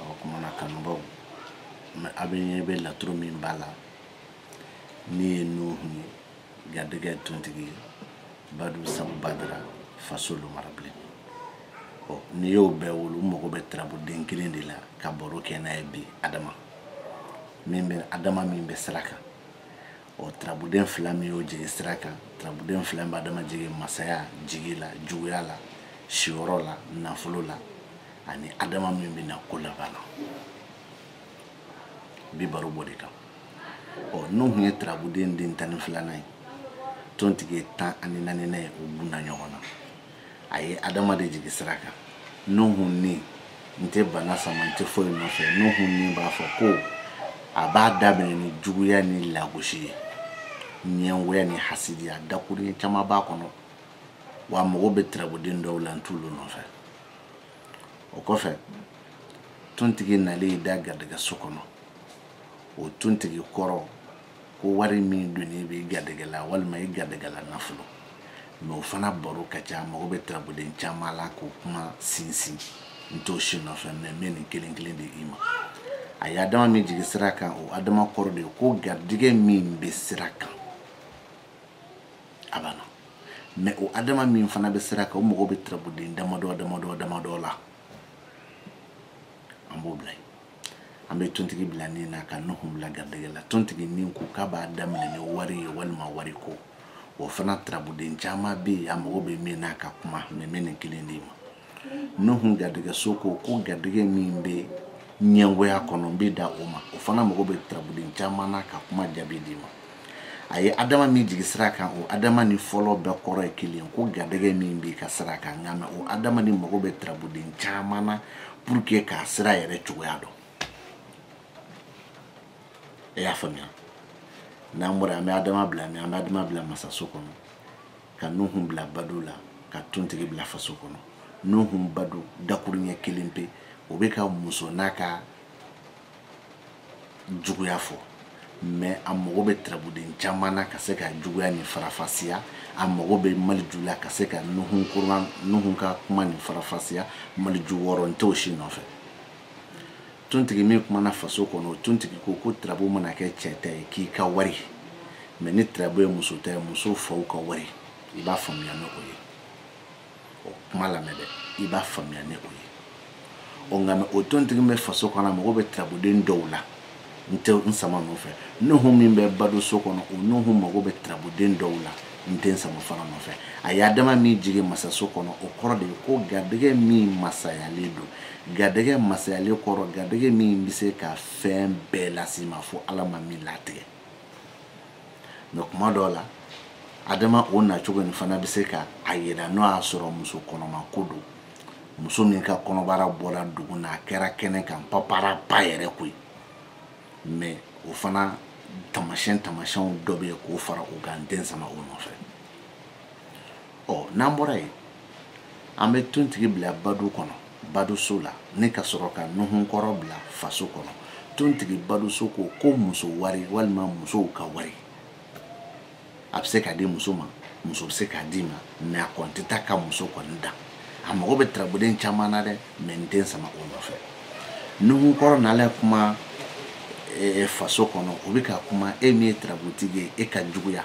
o kumana kanubaw mɛ a bɛ ɲɛ bɛ laturu min b'a la nin ye nuhu ye garijɛgɛ tontigi ye badu sabu badara faso lomara bilen n'i y'o bɛɛ wolo mago bɛ turabuden kelen de la ka baro kɛ n'a ye bi adama min bɛ adama min bɛ sira kan ɔ turabuden fila min y'o jigin sira kan turabuden fila bɛ adama jigin masaya jigi la juguya la siyɔrɔ la nafolo la ani adama min bɛ na ko laban na bi baro b'o de kan ɔ nuhun ye turabuden tan ni filanan ye tontigi ye tan ani naaninan ye u bunna ɲɔgɔn na a ye adama de jigi sira kan nuhun nin n tɛ bana sama n tɛ foyi nɔfɛ nuhun nin b'a fɔ ko a b'a daminɛ ni juguya ni lagosi ye ɲɛngoya ni hasidiya dakuruɲɛ caman b'a kɔnɔ wa mago bɛ turabuden dɔw la n t'olu nɔfɛ o kɔfɛ tontigi nalen y'i da garijɛgɛ so kɔnɔ o tontigi kɔrɔ ko wari min dunni b'i garijɛgɛ la walima i garijɛgɛ la nafolo mɛ o fana baro ka ca mago bɛ turabuden caman la k'o kuma sinsin n t'o si nɔfɛ mɛ n bɛ nin kelen kelen d'i ma a ye adama min jigi sira kan o adama kɔrɔ de ye ko garijɛgɛ min bɛ sira kan a banna mɛ o adama min fana bɛ sira kan o mago bɛ turabuden damadɔ damadɔ damadɔ la an b'o bila yen an bɛ tontigi bila nin na ka nuhu bila garijɛgɛ la tontigi nin ko k'a b'a daminɛ ni wari ye walima wari ko o fana turabuden caman bɛ yen a mago bɛ min na ka kuma mɛ n bɛ nin kelen d'i ma nuhun garijɛgɛso ko ko garijɛgɛ min bɛ ɲɛngoya kɔnɔ n bɛ dan o ma o fana mago bɛ turabuden caman na ka kuma jaabi d'i ma a ye adama min jigi sira kan o adama ni fɔlɔ bɛɛ kɔrɔ ye kelen ko garijɛgɛ min b'i ka sira kan nka mɛ o adama nin mago bɛ turabuden caman na pour que k'a sira yɛrɛ cogoya dɔn e y'a faamuya n'an bɔra an bɛ adama bila mɛ an bɛ adama bila masaso kɔnɔ ka nuhun bila badu la ka tontigi bila faso kɔnɔ nuhun badu dakuruɲɛ kelen pe o bɛ ka muso n'a ka juguya fɔ mɛ a mago bɛ turabuden caman na ka se ka juguya nin farafasiya a mago bɛ maliju la ka se ka nuhun ka kuma nin farafasiya maliju wɔɔrɔ n t'o si nɔfɛ tontigi min kumana faso kɔnɔ o tontigi ko ko turabu mana kɛ cɛ ta ye k'i ka wari mɛ ni turabu ye muso ta ye muso faw ka wari i b'a faamuya ni o ye o kuma lamɛn dɛ i b'a faamuya ni o ye ɔ nka mɛ o tontigi bɛ faso kɔnɔ a mago bɛ turabuden dɔw la n tɛ n sama nɔfɛ nuhu min bɛ badu so kɔnɔ o nuhu mago bɛ turabuden dɔw la n tɛ n sama fana nɔfɛ a ye adama min jigin masaso kɔnɔ o kɔrɔ de ye ko garijɛgɛ min masayalen don garijɛgɛ masayalen kɔrɔ garijɛgɛ min bɛ se ka fɛn bɛɛ lase i ma fo ala ma min latigɛ mɛ kuma dɔw la adama o nacogo nin fana bɛ se ka a yira n'o y'a sɔrɔ muso kɔnɔma ko don muso min ka kɔnɔbara bɔra dugu na a kɛra kɛnɛ kan paparapa yɛrɛ koyi mɛ o fana tamasiyɛn tamasiyɛnw dɔ bɛ yen k'o fara o kan n tɛ n sama o nɔfɛ ɔ n'an bɔra yen an bɛ tontigi bila badu kɔnɔ baduso la ni ka sɔrɔ ka nuhunkɔrɔ bila faso kɔnɔ tontigi baduso ko ko muso wari walima musow ka wari a bɛ se ka di muso ma muso bɛ se k'a d'i ma mɛ a kɔni tɛ taa ka muso kɔni dan a mago bɛ turabuden caman na dɛ mɛ n tɛ n sama o nɔfɛ nuhu kɔrɔ nalen kuma e, e, faso kɔnɔ o bɛ ka kuma e min ye turabutigi ye e ka juguya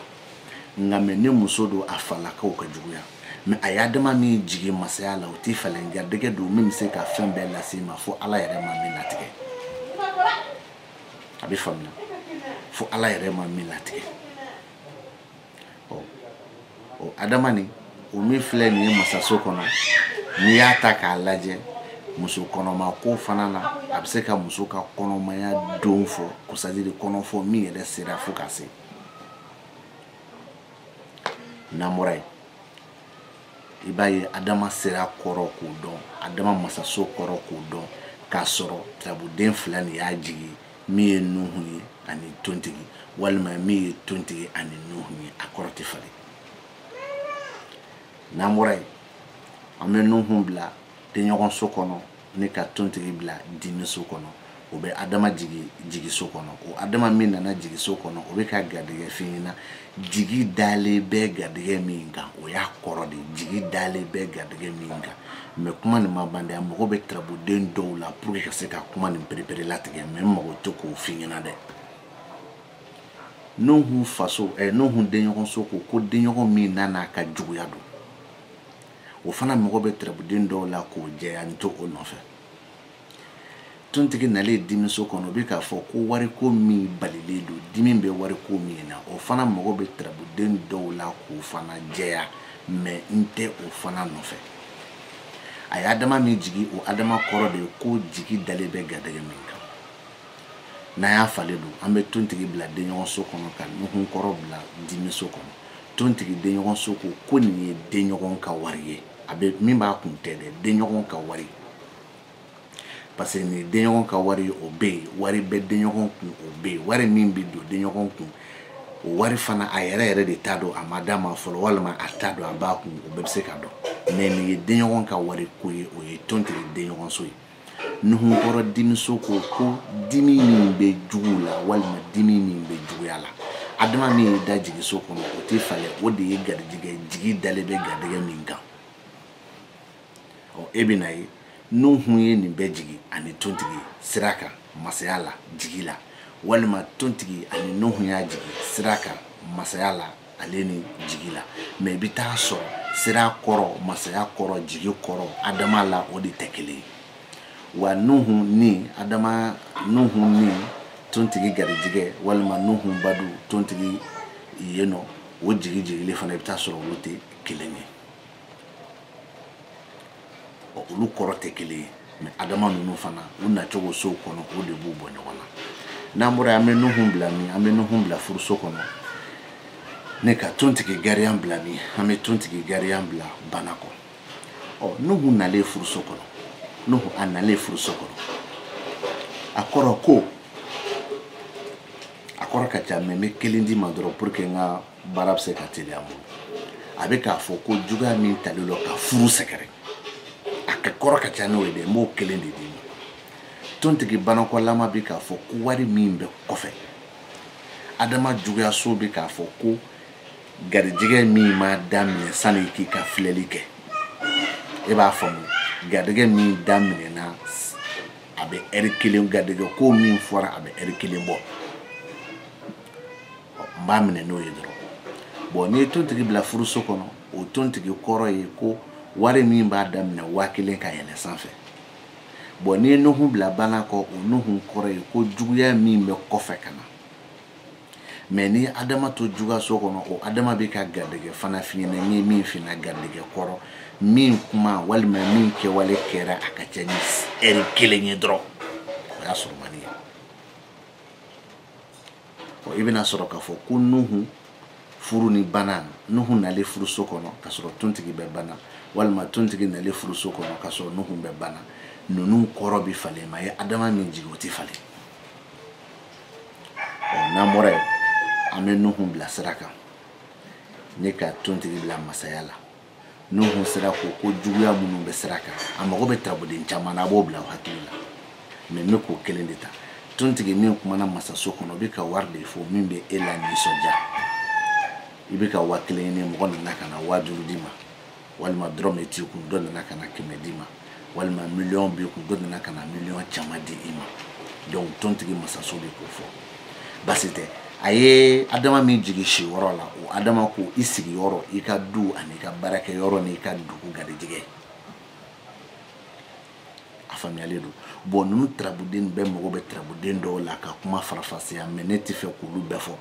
nka mɛ ni muso don a falakaw ka juguya mɛ a ye adama min jigin masaya la o tɛ falen garijɛgɛ don min bɛ se ka fɛn bɛɛ lase i ma fo ala yɛrɛ ma min latigɛ a bɛ faamuya fo ala yɛrɛ ma min latigɛ ɔ ɔ adama nin o min filɛ nin ye masaso kɔnɔ n'i y'a ta k'a lajɛ muso kɔnɔma ko fana na a bɛ se ka muso ka kɔnɔmaya don fɔ ko c'est-à-dire kɔnɔ fɔ min yɛrɛ sera fo ka se n'an bɔra yen i b'a ye adama sera kɔrɔ k'o dɔn adama masaso kɔrɔ k'o dɔn k'a sɔrɔ turabuden fila nin y'a jigin min ye nuhu ye ani tontigi walima min ye tontigi ani nuhu ye a kɔrɔ tɛ falen n'an bɔra yen an bɛ nuhu bila denɲɔgɔnso kɔnɔ ni ka tontigi bila dimiso kɔnɔ o bɛ adama jigin jigiso kɔnɔ o adama min nana jigiso kɔnɔ o bɛ ka garijɛgɛ f'i ɲɛna jigi dalen bɛ garijɛgɛ min kan o y'a kɔrɔ de jigi dalen bɛ garijɛgɛ min kan mɛ kuma nin ma ban dɛ a mago bɛ turabuden dɔw la pour que ka se ka kuma nin pereperelatigɛ mɛ n mago t'o k'o f'i ɲɛna dɛ nuhun faso ɛ eh, nuhun denɲɔgɔnso ko ko denɲɔgɔn min nana ka juguya don o fana mago bɛ turabuden dɔw la k'o jɛya n tɛ o nɔfɛ tontigi nalen dimiso kɔnɔ o bɛ k'a fɔ ko wariko min balilen don dimi bɛ wariko min na o fana mago bɛ turabuden dɔw la k'o fana jɛya mɛ n tɛ o fana nɔfɛ a ye adama min jigin o adama kɔrɔ de ye ko jigi dalen bɛ garijɛgɛ min n'an y'a falen don an bɛ tontigi bila denɲɔgɔnso kɔnɔ ka nuhun kɔrɔ bila dimiso kɔnɔ tontigi denɲɔgɔnso ko ko nin ye denɲɔgɔn ka wari ye a bɛ min b'a kun tɛ dɛ denɲɔgɔn ka wari parce que nin denɲɔgɔn ka wari o bɛ yen wari bɛ denɲɔgɔn kun o bɛ yen wari min bɛ don denɲɔgɔn kun o wari fana a yɛrɛ yɛrɛ de t'a dɔn a ma d'a ma fɔlɔ walima a t'a dɔn a b'a kun o bɛɛ bɛ se ka don mɛ nin ye denɲɔgɔn ka wariko ye o ye tontigi denɲɔgɔnso ye nuhun kɔrɔ dimiso ko ko dimi min bɛ jugu la walima dimi min bɛ juguya la adama min ye da jigiso kɔnɔ o tɛ falen o de ye garijigɛ jigi dalen bɛ garijigɛ min kan ɔ e bɛn'a ye nuhun ye nin bɛ jigi ani tontigi sira kan masaya la jigi la walima tontigi ani nuhun y'a jigi sira kan masaya la ale ni jigi la mɛ i bɛ t'a sɔrɔ sira kɔrɔ masaya kɔrɔ jigi kɔrɔ adama la o de tɛ kelen ye wa nuhu ni adama nuhu ni tontigi garijigɛ walima nuhu badu tontigi yen nɔ o jigi jigili fana i bɛ t'a sɔrɔ olu tɛ kelen ye olu kɔrɔ tɛ kelen ye mɛ adama ninnu fana u nacogo sow kɔnɔ o de b'u bɔ ɲɔgɔn na n'an bɔra an bɛ nuhun bila min an bɛ nuhun bila furuso kɔnɔ ni ka tontigi gariyan bila min an bɛ tontigi gariyan bila bana kɔ ɔ nuhu nalen furuso kɔnɔ nuhu a nalen furuso kɔnɔ a kɔrɔ ko a kɔrɔ ka ca mɛ n bɛ kelen d'i ma dɔrɔn pour que n ka baara bɛ se ka teliya bolo a bɛ k'a fɔ ko juguya min talen don ka furu sɛgɛrɛ a ka kɔrɔ ka ca n'o ye dɛ n b'o kelen de d'i ma tontigi banakɔlama bɛ k'a fɔ ko wari min bɛ kɔfɛ adama juguyaso bɛ k'a fɔ ko garijɛgɛ min ma daminɛ sani k'i ka filɛli kɛ e b'a faamu garijɛgɛ min daminɛna a bɛ ɛri kelen garijɛgɛ ko min fɔra a bɛ ɛri kelen bɔ n b'a minɛ n'o ye dɔrɔn bɔn n'i ye tontigi bila furuso kɔnɔ o tontigi kɔrɔ ye ko wari min b'a daminɛ waa kelen ka yɛlɛ sanfɛ bɔn n'i ye nuhun bila bana kɔ o nuhun kɔrɔ ye ko juguya min bɛ kɔfɛ ka na mɛ ni adama to juguyaso kɔnɔ o adama bɛ ka garijɛgɛ fana f'i ɲɛna min fina garijɛgɛ kɔrɔ min kuma walima min kɛwale kɛra a ka ca ni ɛri kelen ye dɔrɔn o y'a surumani ye i bɛn'a sɔrɔ k'a fɔ ko nuhu furu ni bana nuhu nalen furuso kɔnɔ k'a sɔrɔ tontigi bɛ bana walima tontigi nalen furuso kɔnɔ k'a sɔrɔ nuhu bɛ bana ninnu kɔrɔ bɛ falen mɛ adama min jigin o tɛ falen ɔ n'an bɔra yen an bɛ nuhu bila sira kan ni ka tontigi bila masaya la nuhun sira ko ko juguya minnu bɛ sira kan a mago bɛ turabuden caman na a b'o bila aw hakili la mɛ n bɛ k'o kelen de ta tontigi min kumana masaso kɔnɔ o bɛ ka wari de fɔ min bɛ e la nisɔndiya i bɛ ka waa kelen ɲini mɔgɔ nana ka na waa duuru d'i ma walima dɔrɔmɛ t'i kun dɔ nana ka na kɛmɛ d'i ma walima miliyɔn b'i kun dɔ nana ka na miliyɔn caman di i ma donc tontigi masaso bɛ k'o fɔ basi tɛ a ye adama min jigi sigiyɔrɔ la o adama ko i sigiyɔrɔ i ka du ani ka baarakɛyɔrɔ n'i ka dugu garijɛgɛ a faamuyalen don bɔn ninnu tarabuden bɛɛ mago bɛ tarabuden dɔw la ka kuma farafasiya mɛ ne t'a fɛ k'olu bɛɛ fɔ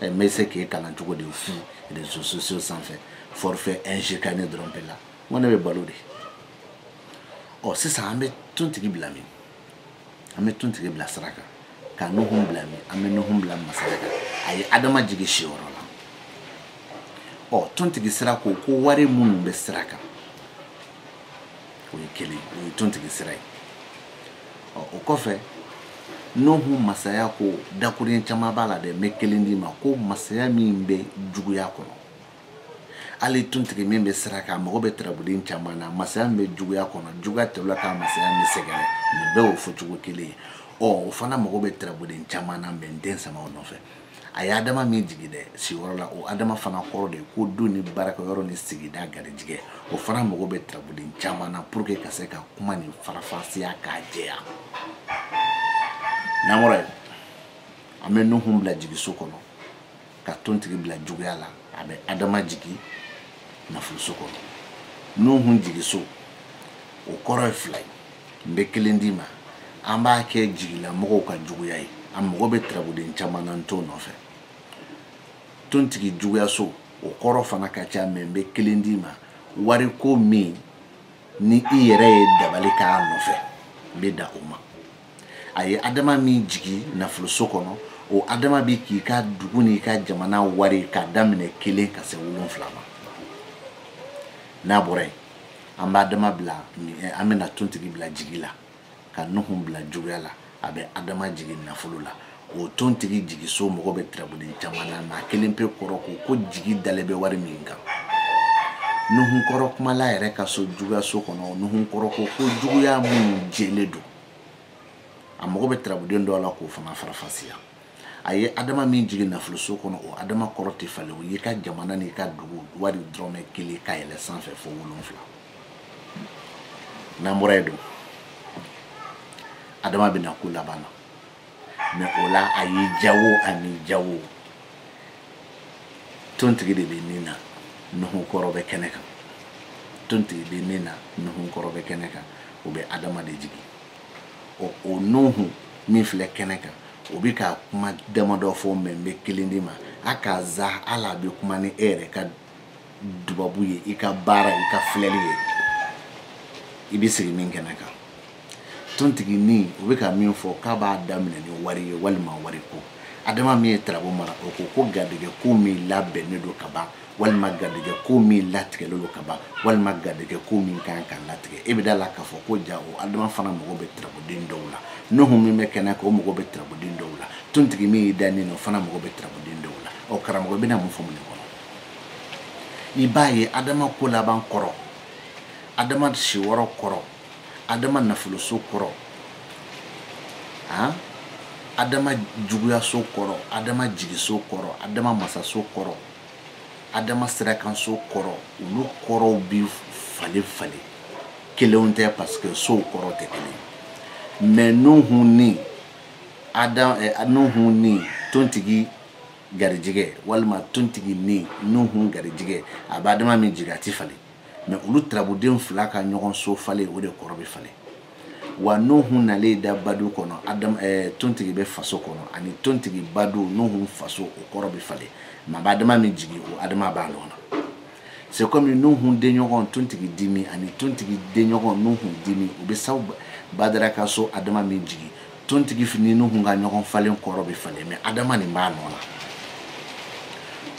ɛ n bɛ se k'e kalan cogo di fu réseaux sociaux sanfɛ forfait ingécane dɔrɔn bɛ la n ko ne bɛ balo di ɔ sisan an bɛ tontigi bila min an bɛ tontigi bila sira kan ka nuhun bila min an bɛ nuhun bila masaya kan a ye adama jigin sigiyɔrɔ la ɔ tontigi sira ko ko wari minnu bɛ sira kan o ye kelen o ye tontigi sira ye ɔ o kɔfɛ nuhu masaya ko dakurun caman b'a la dɛ n bɛ kelen d'i ma ko masaya min bɛ juguya kɔnɔ hali tontigi min bɛ sira kan a mago bɛ tarabuden caman na masaya min bɛ juguya kɔnɔ juguya tɛmɛla ka masaya min sɛgɛrɛ nin bɛɛ y'o fɔcogo kelen ye ɔ o fana mago bɛ tarabuden caman na mɛ n tɛ n sama o nɔfɛ a ye adama min jigi dɛ sigiyɔrɔ la o adama fana kɔrɔ de ye ko du ni baarakɛyɔrɔ ni sigida garijigɛ o fana mago bɛ tarabuden caman na pour que ka se ka kuma nin farafasiya k'a jɛya n'an bɔra yen an bɛ nuhun bila jigiso kɔnɔ ka tontigi bila juguya la a bɛ adama jigi nafoloso kɔnɔ nuhun jigiso o kɔrɔ ye fila ye n bɛ kelen d'i ma an b'a kɛ jigilamɔgɔw ka juguya ye a mago bɛ tarabuden caman na n t'o nɔfɛ tontigi juguyaso o kɔrɔ fana ka ca mɛ n bɛ kelen d'i ma wariko min ni i yɛrɛ ye dabali k'a nɔfɛ n bɛ dan o ma a ye adama min jigi nafoloso kɔnɔ o adama bi k'i ka dugu n'i ka jamana wari k'a daminɛ kelen ka se wolonfila ma n'an bɔra yen an bɛ adama bila eh, an bɛna tontigi bila jigi la ka nuhu bila juguya la a bɛ adama jigi nafolo la o tontigi jigiso mago bɛ tarabuden caman na mɛ a kelen pe kɔrɔ ko ko jigi dalen bɛ wari min kan nuhunkɔrɔ kumala yɛrɛ ka so juguyaso kɔnɔ nuhunkɔrɔ ko ko juguya minnu jɛlen don a mago bɛ tarabuden dɔ la k'o fana farafasiya a ye adama min jigin nafoloso kɔnɔ o adama kɔrɔ tɛ falen o y'i ka jamana n'i ka dugu wari dɔrɔmɛ kelen ka yɛlɛ sanfɛ fo wolonfila n'an bɔra yen donc adama bɛna ko laban na mɛ o la a y'i jawo ani jawo tontigi de bɛ nin na nuhu kɔrɔ bɛ kɛnɛ kan tontigi bɛ nin na nuhu kɔrɔ bɛ kɛnɛ kan o bɛ adama de jigin ɔ o nuhu min filɛ kɛnɛ kan o bɛ ka kuma damadɔ fɔ mɛ n bɛ kelen d'i ma a ka ca a la bɛ kuma ni e yɛrɛ ka dubabu ye i ka baara i ka filɛli ye i bɛ sigi min kɛnɛ kan tontigi ni o bɛ ka min fɔ k'a b'a daminɛ ni wari ye walima wari ko adama min ye tarabu mara o ko ko garijɛgɛ ko min labɛnnen don ka ban walima garijɛgɛ ko min latigɛlen don ka ban walima garijɛgɛ ko min kan ka latigɛ e bɛ da la k'a fɔ ko ja o adama fana mago bɛ tarabuden dɔw la nuhu min bɛ kɛnɛ kan o mago bɛ tarabuden dɔw la tontigi min y'i da nin na o fana mago bɛ tarabuden dɔw la ɔ karamɔgɔ bɛna mun fɔ mun de kɔnɔ i b'a ye adama ko laban kɔrɔ adama siyɔrɔ kɔrɔ adama nafoloso kɔrɔ adama juguyaso kɔrɔ adama jigiso kɔrɔ adama masaso kɔrɔ adama sirakanso kɔrɔ olu kɔrɔw bi falen falen kelen tɛ parce que sow kɔrɔ tɛ kelen mais nuhu ni adam eh, nuhu ni tontigi garijɛgɛ walima tontigi ni nuhun garijɛgɛ a bɛ adama min jigin a ti falen mais olu tarabuden fila ka ɲɔgɔn so falen o de kɔrɔ bɛ falen wa nuhun nalen da badu kɔnɔ adam eh, tontigi bɛ faso kɔnɔ ani tontigi badu nuhun faso o kɔrɔ bɛ falen mais a bɛ adama min jigin o adama b'a nɔ na c'est comme nuhun denɲɔgɔn tontigi dimi ani tontigi denɲɔgɔn nuhun dimi o bɛ saw badara ka so adama min jigin tontigi fini nuhun ka ɲɔgɔn falen kɔrɔ bɛ falen mais adama nin b'a nɔ la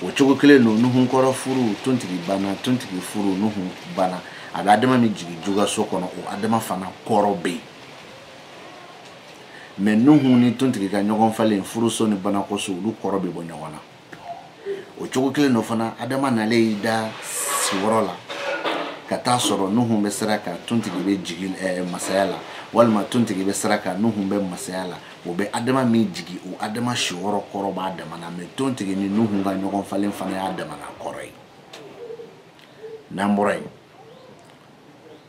o cogo kelen don nuhun kɔrɔ furu tontigi bana tontigi furu nuhun bana a bɛ adama min jigin juguyaso kɔnɔ o adama fana kɔrɔ bɛ yen mais nuhu ni tontigi ka ɲɔgɔn falen furuso ni banakoso olu kɔrɔ bɛ bɔ ɲɔgɔn na o cogo kelen don fana adama nalen y'i da siyɔrɔ la ka taa sɔrɔ nuhu bɛ sira kan tontigi bɛ jigi eh, masaya la walima tontigi bɛ sira kan nuhu bɛ masaya la o bɛ adama min jigin o adama siyɔrɔ kɔrɔ b'a damana mais tontigi ni nuhu ka ɲɔgɔn falen fana y'a damana kɔrɔ ye n'an bɔra yen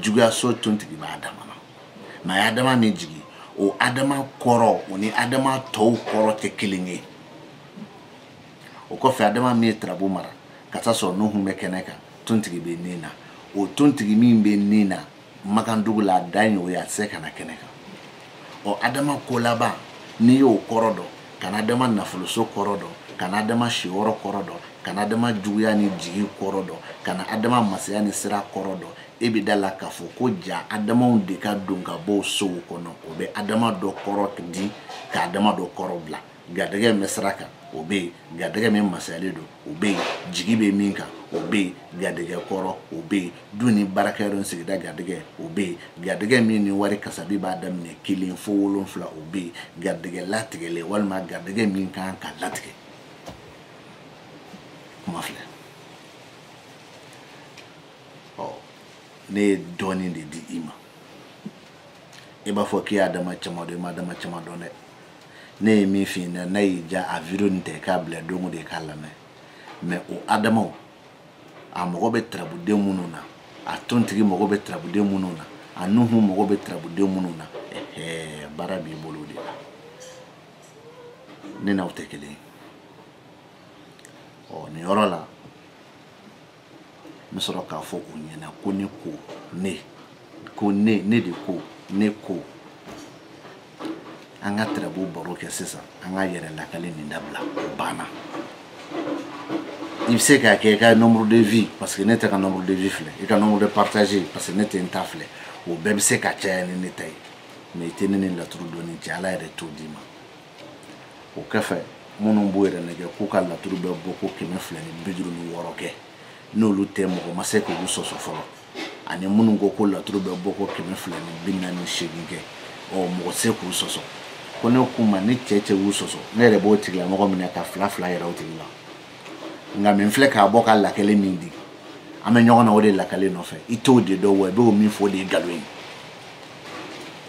juguyaso tontigi b'a dama na mais a ye adama min jigin o adama kɔrɔ o ni adama tɔw kɔrɔ tɛ kelen ye o kɔfɛ adama min ye tarabu mara ka taa sɔrɔ nuhun bɛ kɛnɛ kan tontigi bɛ nin na o tontigi min bɛ nin na makandugu la a dan ye o ye a tɛ se ka na kɛnɛ kan ɔ adama ko laban n'i y'o kɔrɔ dɔn ka na adama nafoloso kɔrɔ dɔn ka na adama siyɔrɔ kɔrɔ dɔn ka na adama juguya ni jigi kɔrɔ dɔn ka na adama masaya ni sira kɔrɔ dɔn e bɛ da la k'a fɔ ko ja adamaw de ka don ka bɔ o sow kɔnɔ o bɛ adama dɔ kɔrɔ di ka adama dɔ kɔrɔ bila garijɛgɛ min bɛ sira kan o bɛ yen garijɛgɛ min masayalen don o bɛ yen jigi bɛ min kan o bɛ yen garijɛgɛ kɔrɔ o bɛ yen du ni baarakɛyɔrɔ ni sigida garijɛgɛ o bɛ yen garijɛgɛ min ni wari kasabi b'a daminɛ kelen fo wolonfila o bɛ yen garijɛgɛ latigɛlen walima garijɛgɛ min kan ka latigɛ kuma filɛ ɔ ne ye dɔɔnin de di i ma i b'a fɔ k'i y'adama caman dɔn i m'adama caman dɔn dɛ ne ye min f'i ɲɛna n'a y'i diya a video nin tɛ k'a bila don o don i k'a lamɛn mais o adamaw a mago bɛ tarabuden minnu na a tontigi mago bɛ tarabuden minnu na a nuhu mago bɛ tarabuden minnu na ɛhɛɛ baara b'i bolo de la ne n'aw tɛ kelen ye ɔ nin yɔrɔ la n bɛ sɔrɔ k'a fɔ u ɲɛna ko ne ko ne ko ne ne de ko ne ko an ka tarabu baro kɛ sisan an ka yɛrɛ lakali nin dabila o banna i bɛ se k'a kɛ i ka nombre de vue parce que ne tɛ n ka nombre de vue filɛ i ka nombre de partage parce que ne tɛ n ta filɛ o bɛɛ bɛ se ka caya ni ne ta ye mais i tɛ ne ni laturu dɔnni cɛ ala yɛrɛ t'o d'i ma o kɔfɛ minnu b'u yɛrɛ nɛgɛn k'u ka laturu bɛ bɔ ko kɛmɛ fila ni bi duuru ni wɔɔrɔ kɛ n'olu tɛ mɔgɔ ma se k'olu sɔsɔ fɔlɔ ani minnu ko ko laturu bɛ bɔ ko kɛmɛ fila ni bi naani ni seegin kɛ ɔ mɔgɔ se k'u sɔsɔ ko ne k'u ma ni cɛ cɛ y'u sɔsɔ ne yɛrɛ b'o tigilamɔgɔ minɛ ka fila fila yɛrɛ o tigi la nka min filɛ k'a bɔ ka lakale min di an bɛ ɲɔgɔn na o de lakale nɔfɛ i t'o de dɔn wa i b'o min fɔ o de ye nkalon ye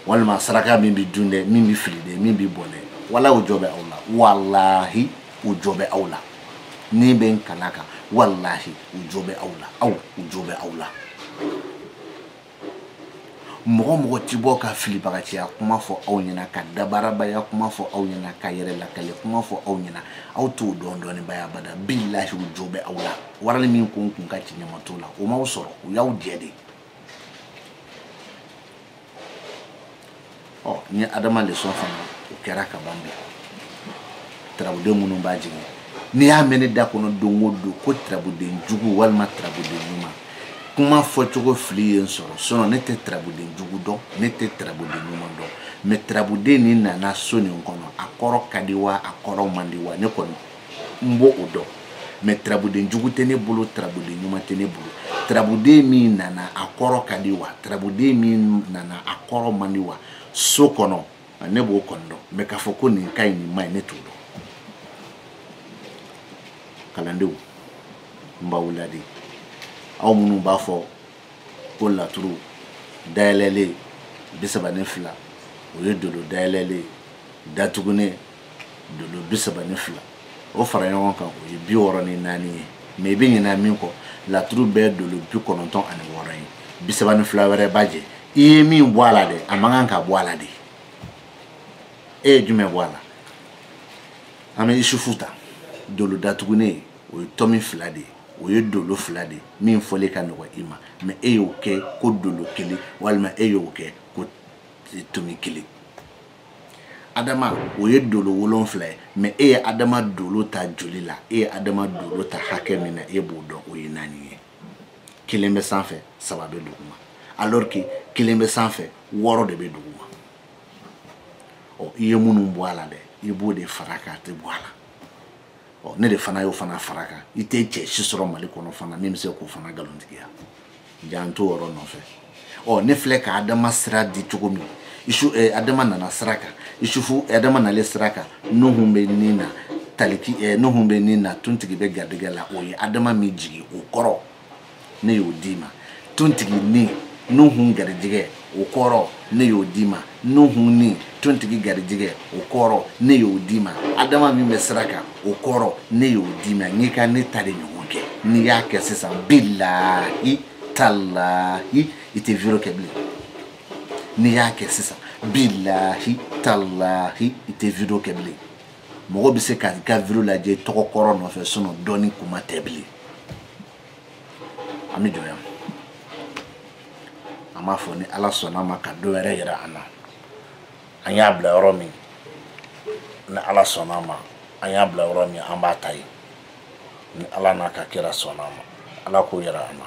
walima saraka min bɛ dun dɛ min bɛ fili dɛ min bɛ bɔ dɛ wala o jɔ bɛ aw la walahi o jɔ bɛ aw la ne bɛ n kal'a kan walahi o jɔ bɛ aw la aw o jɔ bɛ aw la mɔgɔ mɔgɔ ti bɔ ka filibagaciya kuma fɔ aw ɲɛna ka dabarabaya kuma fɔ aw ɲɛna ka yɛrɛ lakale kuma fɔ aw ɲɛna aw t'o dɔn dɔnnibaya abada bilahi u jo bɛ aw la walahi min ko n kun ka ci ɲama t'o la o m'aw sɔrɔ u y'aw jɛ de ɔ n ye adama leçon fana o kɛra ka ban bi tarabuden minnu b'a jigin n'i y'a mɛn ne da kɔnɔ don o don ko tarabuden jugu walima tarabuden ɲuman kuma fɔcogo fili ye n sɔrɔ sinon ne tɛ tarabuden jugu dɔn ne tɛ tarabuden ɲuman dɔn mais tarabuden nin nana so nin kɔnɔ a kɔrɔ ka di wa a kɔrɔ man di wa ne kɔni n b'o dɔn mais tarabuden jugu tɛ ne bolo tarabuden ɲuman tɛ ne bolo tarabuden min nana a kɔrɔ ka di wa tarabuden min nana a kɔrɔ man di wa so kɔnɔ ne b'o kɔni dɔn mais k'a fɔ ko nin ka ɲi nin man ɲi ne t'o dɔn kalandenw n b'aw laadi aw minnu b'a fɔ ko laturu dayɛlɛlen bi saba ni fila o ye dolo dayɛlɛlen datugunen dolo bi saba ni fila o fara ɲɔgɔn kan o ye bi wɔɔrɔ ni naani ye mais i bɛ ɲinɛ min kɔ laturu bɛɛ dolo bi kɔnɔntɔn ani wɔɔrɔ ye bi saba ni fila wɛrɛ b'a jɛ i ye min bɔ a la dɛ a man kan ka bɔ a la de e ye jumɛn bɔ a la an bɛ isufu ta dolo datugunen o ye tomi fila de ye o ye dolo fila de ye min fɔli ka nɔgɔ i ma mais e y'o kɛ ko dolo kelen walima e y'o kɛ ko tomi kelen adama o ye dolo wolonfila ye mais e ye adama dolo ta joli la e ye adama dolo ta hakɛ min na e b'o dɔn o ye naani ye kelen bɛ sanfɛ saba bɛ duguma alors que kelen bɛ sanfɛ wɔɔrɔ de bɛ duguma ɔ i ye minnu bɔ a la dɛ i b'o de fara kan a tɛ bɔ a la ɔ ne de fana y'o fana fara kan i tɛ cɛ si sɔrɔ mali kɔnɔ fana min bɛ se k'o fana nkalontigiya jan t'o yɔrɔ nɔfɛ ɔ ne filɛ ka adama sira di cogo min isu eh, adama nana sira kan isufu adama nalen sira kan nuhu bɛ nin na taliki eh, nuhu bɛ nin na tuntigi bɛ garijɛgɛ la o ye adama min jigin o kɔrɔ ne y'o d'i ma tuntigi ni nuhu garijɛgɛ o kɔrɔ ne y'o d'i ma nuhu ni tontigi garijigɛ o kɔrɔ ne y'o d'i ma adama min bɛ sira kan o kɔrɔ ne y'o d'i ma n'i ka ne ta de ɲɔgɔn kɛ n'i y'a kɛ sisan bilahi talahi i tɛ video kɛ bilen n'i y'a kɛ sisan bilahi talahi i tɛ video kɛ bilen mɔgɔ bɛ se ka i ka video lajɛ tɔgɔ kɔrɔ nɔfɛ sinon dɔɔni kuma tɛ bilen an bɛ jɔ yan an b'a fɔ ni ala sɔnna ma ka don wɛrɛ yira an na an y'a bila yɔrɔ min ni ala sɔnna ma an y'a bila yɔrɔ min an b'a ta yen ni ala n'a ka kira sɔnna ma ala k'o yira an na